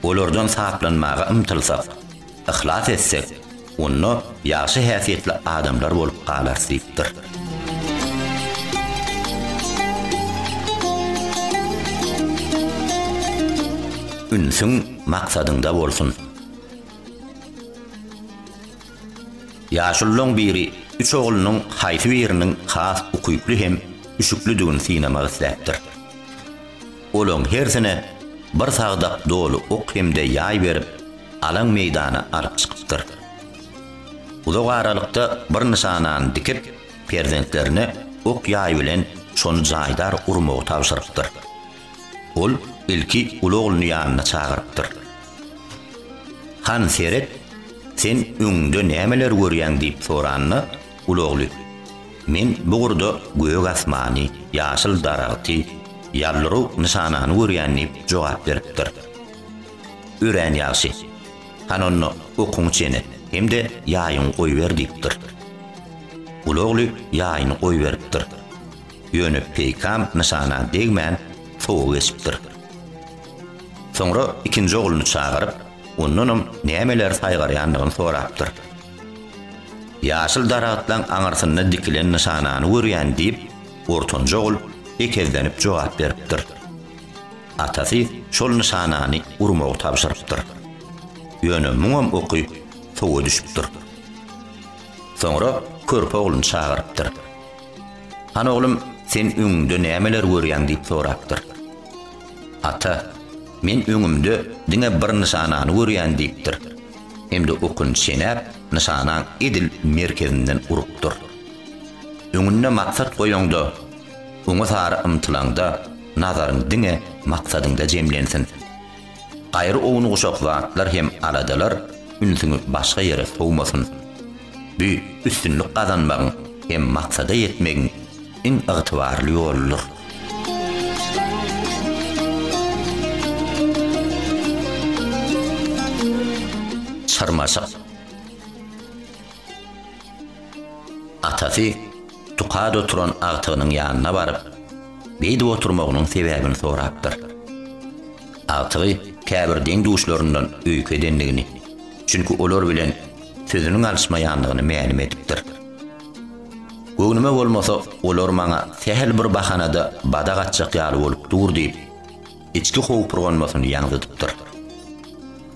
[SPEAKER 1] olardan saplanmaga ymtylsak, Yhlas etsek, onda ýagşy häsiýetli adamlar bolup galarys diýipdir. Ünsüň maksadyňda bolsun! Ýaşululaň biri üç oglunyň haýsy biriniň has ukyply hem üşüklidigini synamak isläpdir. Olaň hersine bir sagdak doly ok hem-de ýaý berip, alaň meýdana alyp çykypdyr. Uzak aralykda bir nyşanany dikip, perzentlerine ok-ýaý bilen şony jaýdar urmagy tabşyrypdyr. Ol ilki uly ogluny ýanyna çagyrypdyr. Han seret, sen öňüňde nämeleri görýäň diýip soranda, Ulagly. Men bu gurda gök asmany, ýaşyl daragty, ýallyrow nyşanany görýän diýip jogap beripdir. Örän ýagşy. Hany onda okuňy çene hem-de ýaýyňy goýber diýipdir. Ulagly ýaýyny goýberipdir. Ýöne peýkam nyşana degmän sowa geçipdir. Soňra ikinji ogluny çagyryp, ondanam nämeleri saýgarýandygyny sorapdyr. Ýaşyl daragtlaň aňyrsynda dikilen nyşanany görýän, diýip, ortanjy ogul ekezlenip jogap beripdir. Atasy şol nyşanany urmagy tabşyrypdyr. Ýöne muňam oky suwa düşüpdir. Soňra körpe ogluny çagyrypdyr. Han oglum, sen öňüňde nämeler görýäň? diýip sorapdyr. Ata, men öňümde diňe bir nyşanany görýän, diýipdir. hem-de okun çenäp, nyşanaň edil merkezinden urupdyr. Öňünde maksat goýaňda, oňa sary ymtylaňda nazaryň diňe maksadyňda jemlensin. Gaýry ownuguşak zatlar hem aladalar ünsüňi başga ýere sowmasyn. Bu üstünlik gazanmagyň hem maksada ýetmegiň iň ygtybarly ýoludyr. Çyrmaşyk. Atasy Tukad oturan agtygynyň ýanyna baryp, beýdip oturmagynyň sebäbini sorapdyr. Agtygy käbir deň-duşlaryndan öýke edendigini, çünki olar bilen sözüniň alyşmaýandygyny mälim edipdir. Göwnüme bolmasa, olar maňa sähel bir bahana-da badak atjak ýaly bolup dur diýip, içki howpurganmasyny ýaňzydypdyr.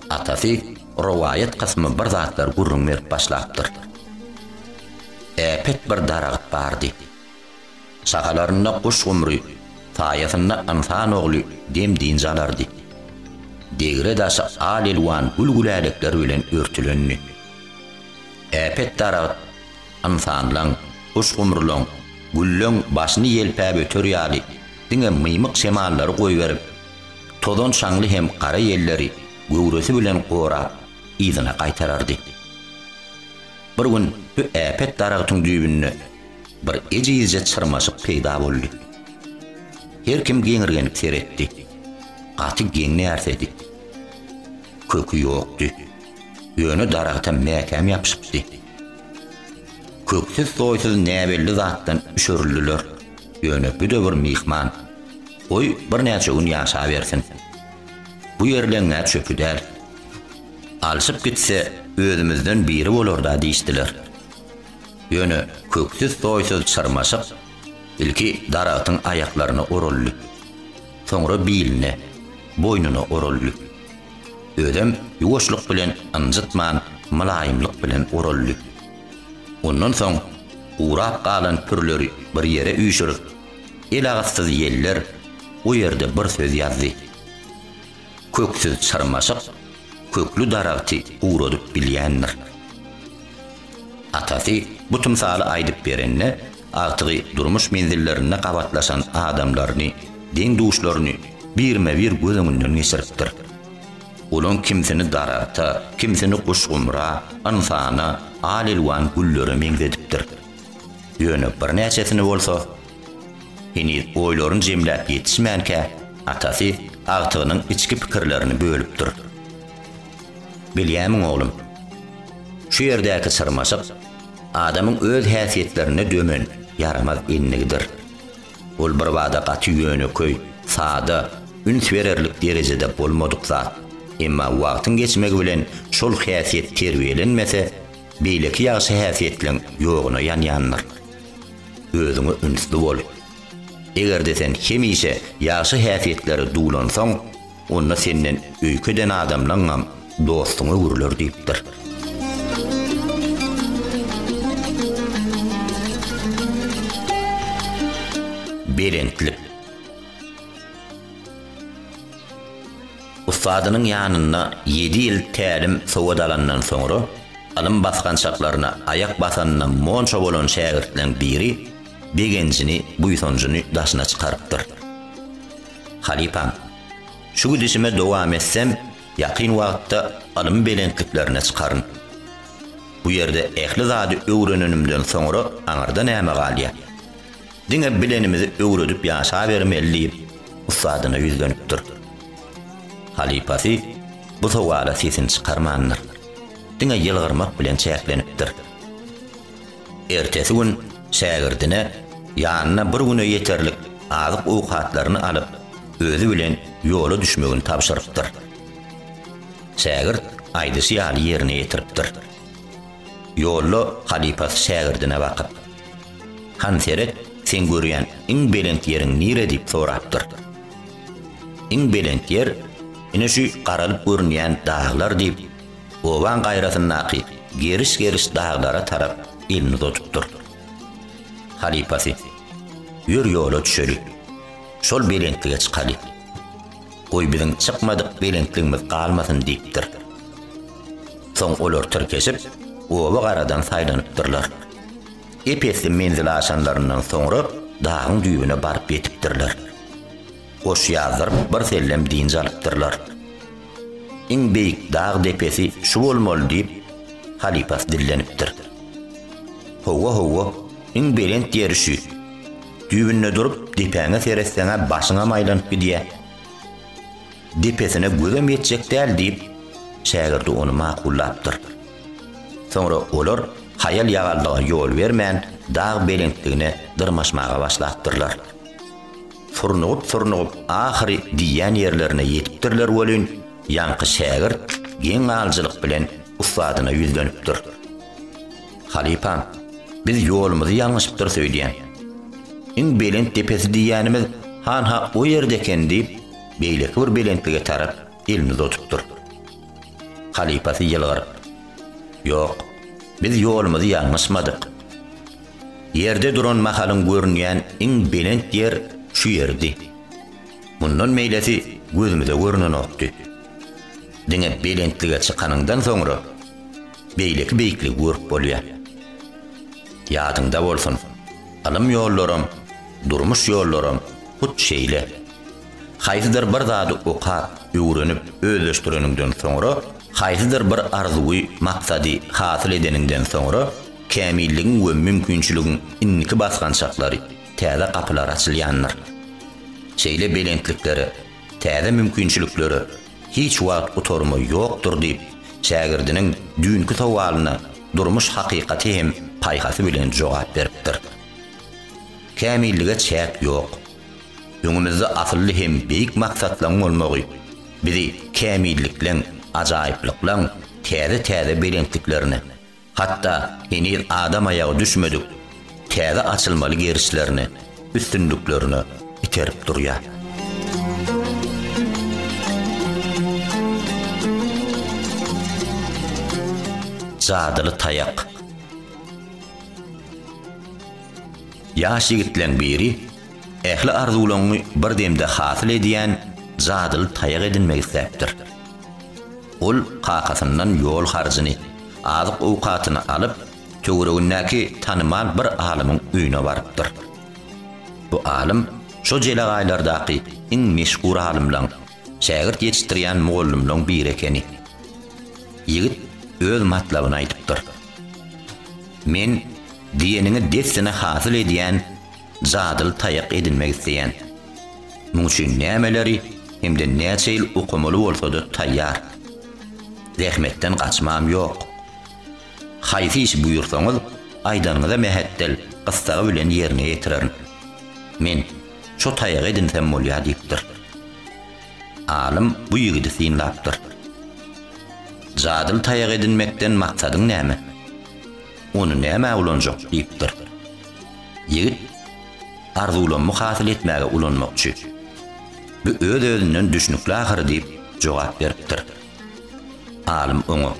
[SPEAKER 1] Atasy rowaýat kysmy bir zatlar gürrüň berip başlapdyr. Äpet bir daragyt bardy. Şahalarynda guş gumry, saýasynda ynsan ogly dem-dynç alardy. Degre-daşy al-elwan gül-gülälekler bilen örtülendi. Äpet daragyt Ynsanlaň, guş-gumrulaň, güllaň başyny ýelpäp öter ýaly diňe mymyk şemallary goýberip, tozan-şaňly hem gara ýelleri göwresi bilen gorap, yzyna gaýtarardy. Bir gün bu äpet daragtyň düýbünde bir ejizje çyrmaşyk peýda boldy. Her kim geňirgenip seretdi. Gaty geň närsedi. Köki ýokdy. Ýöne daragta mäkäm ýapyşypdy. Köksüz-soýsuz näbelli zatdan üşerildiler. Ýöne bu-da bir myhman. Goý, birnäçe gün ýaşabersin. Bu ýerleň-ä çöpi däl. Alşyp gitse, özümizden biri bolar-da diýişdiler. Ýöne Köksüz-soýsuz çyrmaşyk ilki daragtyň aýaklaryna oraldy. Soňra biline, boýnuna oraldy. Özem ýuwaşlyk bilen ynjytman mylaýymlyk bilen oraldy. Ondan soň gurap galan pürleri bir ýere üýşürip, elagyssyz ýeller o ýerde bir söz ýazdy. Köksüz çyrmaşyk kökli daragty guradyp bilýändir. Atasy bu tymsaly aýdyp berende, agtygy durmuş menzillerinde gabatlaşan adamlaryny, deň-duşlaryny birme-bir göz öňünden geçiripdir. Olaň kimsini daragta, kimsini guşgumra, ynsana, al-elwan güllere meňzedipdir. Ýöne birnäçesini bolsa, heniz oýlaryny jemläp ýetişmänkä, atasy agtygynyň içki pikirlerini bölüpdir. Bilýärmiň, oglum? Şu ýerdäki çyrmaşyk adamyň öz häsiýetlerine dömen ýaramaz endigidir. Ol birbada gaty ýönekeý, sada, üns bererlik derejede bolmadyk zat. Emma wagtyň geçmegi bilen şol häsiýet terbiýelenmese, beýleki ýagşy häsiýetleň ýoguna ýanýandyr. Özüňe ünsli bol. Eger-de sen hemişe ýagşy häsiýetlere duwlansaň, Onda senden öýke eden adamlaňňam dostuň öwrüler diýipdir. Belentlik. Ussadynyň ýanynda ýedi ýyl tälim-sowat alandan soňra, ylym basgançaklaryna aýak basanyna monça bolan şägirtleň biri begenjini, buýsanjyny daşyna çykarypdyr. Halypam, şu gidişime dowam etsem, ýakyn wagtda ylym belentliklerine çykaryn. Bu ýerde ähli zady öwrenenimden soňra aňyrda näme galýar? Diňe bilenimizi öwredip ýaşabermeli diýip, ussadyna ýüzlenipdir. Halypasy bu sowala sesini çykarmandyr. Diňe ýylgyrmak bilen çäklenipdir. Ertesi gün şägirdine ýanyna bir güne ýeterlik azyk-owkatlaryny alyp, özi bilen ýola düşmegini tabşyrypdyr. Şägirt aýdyşy ýaly ýerine ýetiripdir. Ýolda halypasy şägirdine bakyp. Han seret, seň görýän iň belent ýeriň nire diýip sorapdyr. Iň belent ýer ine şu garalyp görünýän daglar diýip, obaň gaýrasyndaky geriş-geriş daglara tarap elini uzadypdyr. Halypasy, Ýör ýola düşeli. Şol belentlige çykaly. Goý biziň çykmadyk belentligimiz galmasyn diýipdir. Soň olar tirkeşip, oba garadan saýlanypdyrlar. Ep-esli menzile aşanlaryndan soňra dagyň düýbüne baryp ýetipdirler. Goş ýazdyryp birsellem dynç alypdyrlar. Iň beýik dag depesi şu bolmaly diýip, halypasy dillenipdir. Howwa, howwa, iň belent ýeri şü. Düýbünde durup, depäňe seretseň-ä başyňam aýlanyp gidýä. Depesine gözem ýetjek däl diýip, şägirdi ony makullapdyr. Soňra olar haýal-ýagallyga ýol bermän, dag belentligine dyrmaşmaga başlapdyrlar. Surnugyp-surnugyp ahyry diýýän ýerlerine ýetipdirler welin, ýaňky şägirt geň alyjylyk bilen ussadyna ýüzlenipdir. Halypam, biz ýolumyzy ýalňyşypdyrys öýdýän. Iň belent depesi diýýänimiz han-ha o ýerde eken diýip, beýleki bir belentlige tarap elini uzatupdyr. Halypasy ýylgyryp. Ýok, biz ýolumyzy ýalňyşmadyk. Ýerde duran mahalyň görünýän iň belent ýer şu ýerdi. Mundan beýlesi gözümize görnenokdy. Diňe belentlige çykanyňdan soňra, beýleki beýikligi görüp bolýar. Ýadyňda bolsun, ylym ýollaram, durmuş ýollaram hut şeýle. Haýsydyr bir zady okap, öwrenip, özleşdireniňden soňra, haýsydyr bir arzuwy, maksady hasyl edeniňden soňra, kämilligiň we mümkinçiligiň indiki basgançaklary, täze gapylar açylýandyr. Şeýle belentliklere, täze mümkinçiliklere hiç wagt gutarma ýokdur diýip, şägirdiniň düýnki sowalyna durmuş hakykaty hem paýhasy bilen jogap beripdir. Kämillige çäk ýok. Öňümizde asylly hem beýik maksatlaryň bolmagy bizi kämillikleň, ajaýyplyklaň täze-täze belentliklerine, hatda heniz adam aýagy düşmedik täze açylmaly gerişlerine, üstünliklerine iterip durýar. Jadyly taýak. Ýaş ýigitleň biri Ähli arzuwlaňňy bir demde hasyl edýän jadyly taýak edinmek isläpdir. Ol kakasyndan ýol harjyny, azyk-owkatyny alyp, töweregindäki tanymal bir alymyň öýüne barypdyr. Bu alym şo jelegaýlardaky iň meşhur alymlaň, şägirt ýetişdirýän mugallymlaň biri ekeni. Ýigit öz matlabyny aýdypdyr. Men diýeniňi dessine hasyl edýän jadyly taýak edinmek isleýän. Muň üçin nämeleri hem-de näçe ýyl okamaly bolsa-da taýýar. Zähmetden gaçmam ýok. Haýsy işi buýursaňyz, aýdanyňyza mähetdel gyssagy bilen ýerine ýetirerin. Men şo taýagy edinsem bolýar diýipdir. Alym bu ýigidi synlapdyr. Jadyly taýak edinmekden maksadyň näme? Ony nämä ulanjak? diýipdir. Ýigit, Arzuwlammy hasyl etmäge ulanmakçy. Bu öz-özünden düşnükli ahyry diýip jogap beripdir. Alym oňa,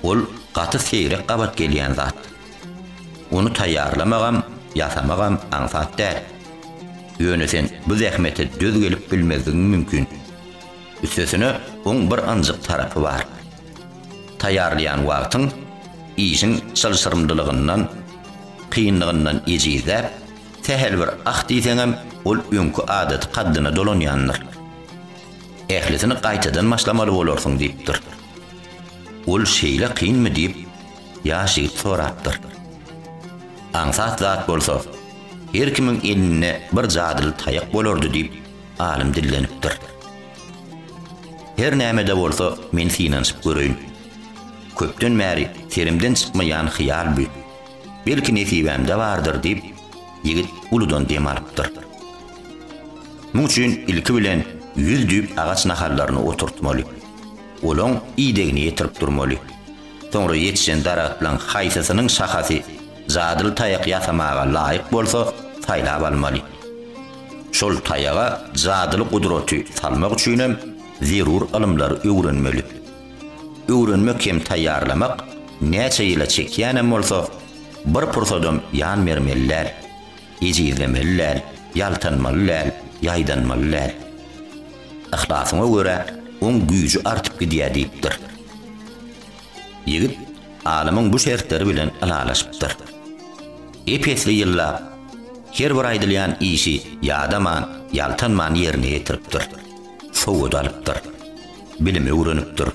[SPEAKER 1] Ol gaty seýrek gabat gelýän zat. Ony taýýarlamagam, ýasamagam aňsat däl. Ýöne sen bu zähmete döz gelip bilmezligiň mümkin. Üstesine oň bir ynjyk tarapy bar. Taýýarlaýan wagtyň işiň çylşyrymlylygyndan, kynlygyndan ejizläp, sähel bir ah diýseňem, ol öňki adaty kaddyna dolanýandyr. Ählisini gaýtadan başlamaly bolarsyň diýipdir. Ol şeýle kynmy diýip, ýaş ýigit sorapdyr. Aňsat zat bolsa, her kimiň elinde bir jadyly taýak bolardy diýip, alym dillenipdir. Her näme-de bolsa, men synanyşyp göreýin. Köpden bäri serimden çykmaýan hyýal bu. Belki nesibämde bardyr, diýip, ýigit uludan dem alypdyr. Muň üçin ilki bilen ýüz düýp agaç nahallaryny oturtmaly. Olaň idegini ýetirip durmaly. Soňra ýetişen daragtlaň haýsysynyň şahasy jadyly taýak ýasamaga laýyk bolsa, saýlap almaly. Şol taýaga jadyly gudraty salmak üçinem zerur ylymlary öwrenmeli. Öwrenmek hem taýýarlamak näçe ýyla çekýänem bolsa, bir pursadam ýan bermeli däl. Ejizlemeli däl, ýaltanmaly däl, ýaýdanmaly däl. Yhlasyňa görä, oň güýji artyp gidýär diýipdir. Ýigit alymyň bu şertleri bilen ylalaşypdyr. ep-esli ýyllap, her bir aýdylýan işi ýadaman, ýaltanman ýerine ýetiripdir. Sowat alypdyr. Bilim öwrenipdir.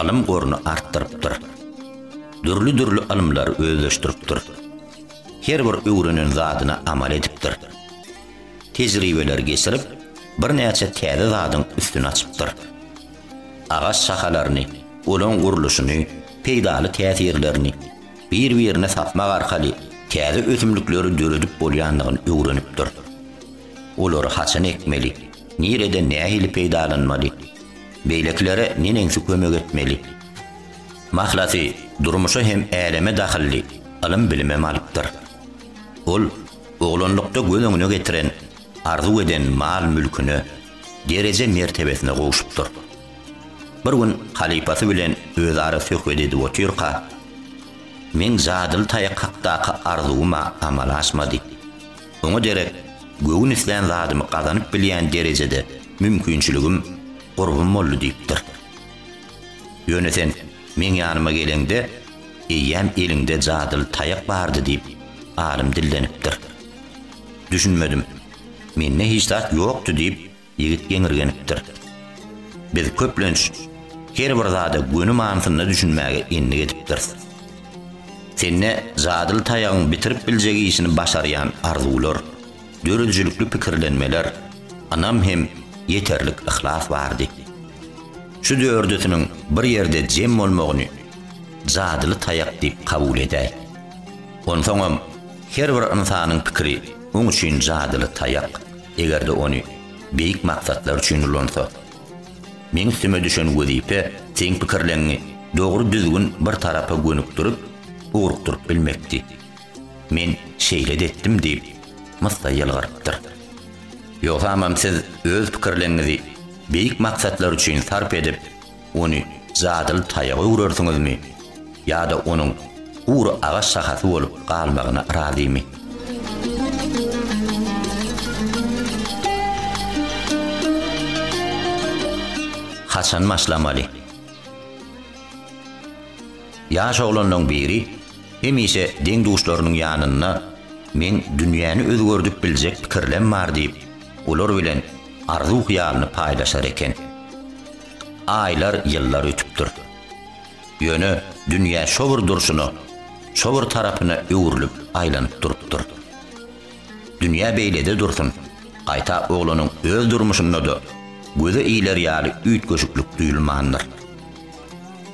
[SPEAKER 1] Ylym goruny artdyrypdyr. Dürli-dürli ylymlary özleşdiripdir. Her bir öwrenen zadyna amal edipdir. Tejribeler geçirip, birnäçe täze zadyň üstüni açypdyr. Agaç şahalaryny, olaň gurluşyny, peýdaly täsirlerini, bir-birine sapmak arkaly täze ösümlikleri döredip bolýandygyny öwrenipdir. Olary haçan ekmeli, nirede nähili peýdalanmaly, beýlekilere neneňsi kömek etmeli? Mahlasy, durmuşa hem äleme dahylly ylym-bilimem alypdyr. Ol oglanlykda göz öňüne getiren, arzuw eden mal-mülküne, dereje-mertebesine gowşupdyr. Bir gün halypasy bilen özara söhbet edip otyrka, Meň jadyly taýak hakdaky arzuwym-a amala aşmady. Oňa derek göwün islän zadymy gazanyp bilýän derejede mümkinçiligim, gurbym boldy diýipdir. Ýöne sen meň ýanyma geleňde, eýýäm eliňde jadyly taýak bardy diýip, alym dillenipdir. Düşünmedim. Mende hiç zat ýokdy diýip, Ýigit geňirgenipdir. Biz köplenç her bir zada göni manysynda düşünmäge endik edipdiris. Sende jadyly taýagyň bitirip biljek işini başarýan arzuwlar, döredijilikli pikirlenmeler, ynam hem ýeterlik yhlas bardy. Şu dördüsiniň bir ýerde jem bolmagyny jadyly taýak diýip kabul edäý. Onsoňam her bir ynsanyň pikiri oň üçin jadyly taýak. Eger-de ony beýik maksatlar üçin ulansa. Meň üstüme düşen wezipe seň pikirleňňi dogry düzgün bir tarapa gönükdirip, ugrukdyryp bilmekdi. Men şeýle-de etdim, diýip, Myssa ýylgyrypdyr. Ýogsamam siz öz pikirleňňizi beýik maksatlar üçin sarp edip, Ony jadyly taýaga öwrersiňizmi ýa-da onuň gury agaç şahasy bolup galmagyna razymy? Haçan başlamaly? Ýaş oglanlaryň biri hemişe deň-duşlarynyň ýanynda Men dünýäni özgerdip biljek pikirlem bar diýip, olar bilen arzuw-hyýalyny paýlaşar eken. Aýlar, ýyllar ötüpdir. Ýöne dünýä şo bir durşuna, şo bir tarapyna öwrülip, aýlanyp durupdyr. Dünýä beýlede dursun, gaýta oglanyň öz durmuşynda-da göze iler ýaly üýtgeşiklik duýulmandyr.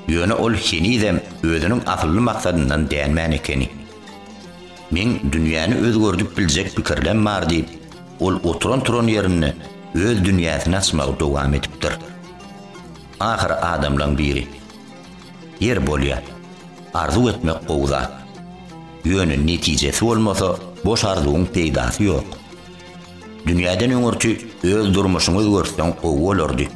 [SPEAKER 1] Ýöne ol henizem özüniň asylly maksadyndan dänmän ekeni. Meň dünýäni özgerdip biljek pikirlem bar diýip, Ol oturan-turan ýerinde öz dünýäsini açmagy dowam edipdir. Ahyry adamlaň biri, Ýer bolýa, arzuw etmek gowy zat. Ýöne netijesi bolmasa, boş arzuwyň peýdasy ýok. Dünýäden öňürti öz durmuşyňy özgertseň gowy bolardy.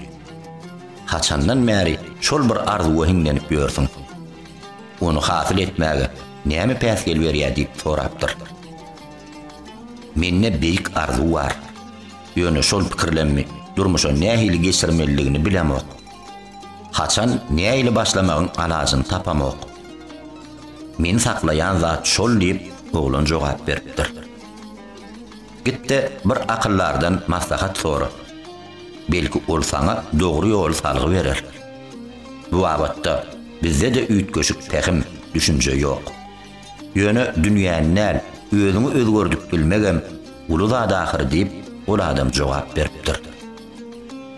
[SPEAKER 1] Haçandan bäri şol bir arzuwa hiňlenip ýörsüň? Ony hasyl etmäge näme päsgel berýär diýip sorapdyr. Mende beýik arzuw bar. Ýöne şol pikirlerimi durmuşa nähili geçirmelidigini bilemok. Haçan, nähili başlamagyň alajyny tapamok. Meni saklaýan zat şol diýip, oglan jogap beripdir. Git-de bir akyldardan maslahat sora. Belki ol saňa dogry ýoly salgy berer. Bu babatda bizde-de üýtgeşik pähim, düşünje ýok. Ýöne dünýäni däl, özüňi özgerdip bilmegem uly zat ahyry diýip, ol adam jogap beripdir.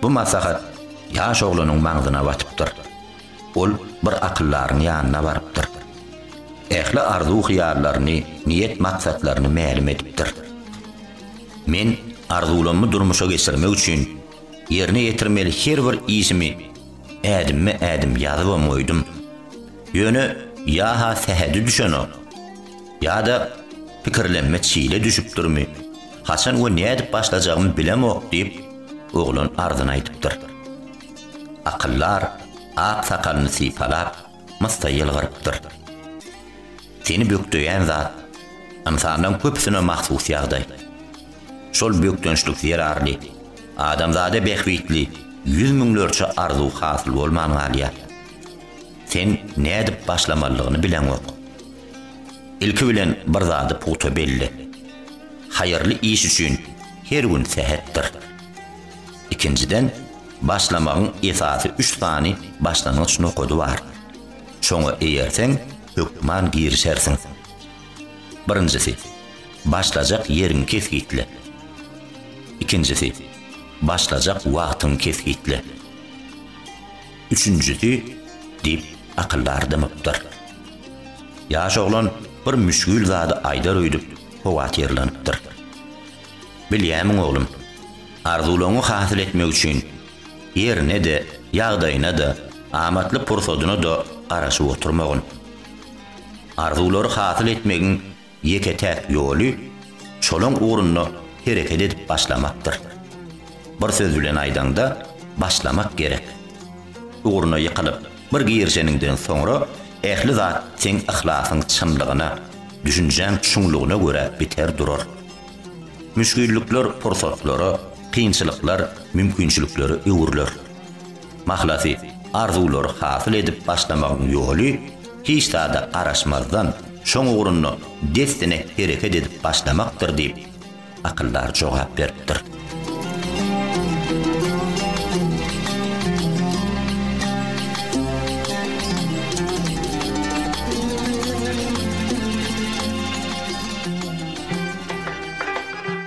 [SPEAKER 1] Bu maslahat ýaş oglanyň maňzyna batypdyr. Ol bir akyldaryň ýanyna barypdyr. Ähli arzuw-hyýallaryny, niýet-maksatlaryny mälim edipdir. Men arzuwlammy durmuşa geçirmek üçin, ýerine ýetirmeli her bir işimi ädimme-ädim ýazybam goýdum. Ýöne ýa-ha sähedi düşenok, ýa-da pikirlenme çile düşüpdirmi, haçan we nädip başlajagymy bilemok diýip, oglan arzyny aýdypdyr. Akyldar ak sakalyny sypalap, myssa ýylgyrypdyr. Seni bökdeýän zat, ynsanlaryň köpüsine mahsus ýagdaý. Şol bökdençlik zerarly, adamzada bähbitli ýüz müňlerçe arzuw hasyl bolman galýar. Sen nädip başlamalydygyny bileňok. Ilki bilen bir zady pugta belle. Haýyrly iş üçin her gün sähetdir. Ikinjiden, başlamagyň esasy üç sany başlangyç nokady bar. Şoňa eýerseň, hökman girişersiň. Birinjisi, başlajak ýeriňi kesgitle. Ikinjisi, başlajak wagtyňy kesgitle. Üçünjisi, diýip, akyldar dymypdyr. Ýaş oglan bir müşgil zady aýdar öýdüp, howatyrlanypdyr. Bilýämiň, oglum, arzuwlaryňy hasyl etmek üçin ýerine-de, ýagdaýyna-da, amatly pursadyna-da garaşyp oturmagyn. Arzuwlary hasyl etmegiň ýeke-täk ýoly şolaň ugrunda hereket edip başlamakdyr. Bir söz bilen aýdaňda, başlamak gerek. Ugruna ýykylyp, bir girişeniňden soňra ähli zat seň yhlasyň çynlygyna, düşünjäň çuňlugyna görä biter durar. Müşgillikler pursatlara, kynçylyklar mümkinçiliklere öwrüler. Mahlasy, arzuwlary hasyl edip başlamagyň ýoly, hiç zada garaşmazdan, şoň ugrunda dessine hereket edip başlamakdyr diýip, akyldar jogap beripdir.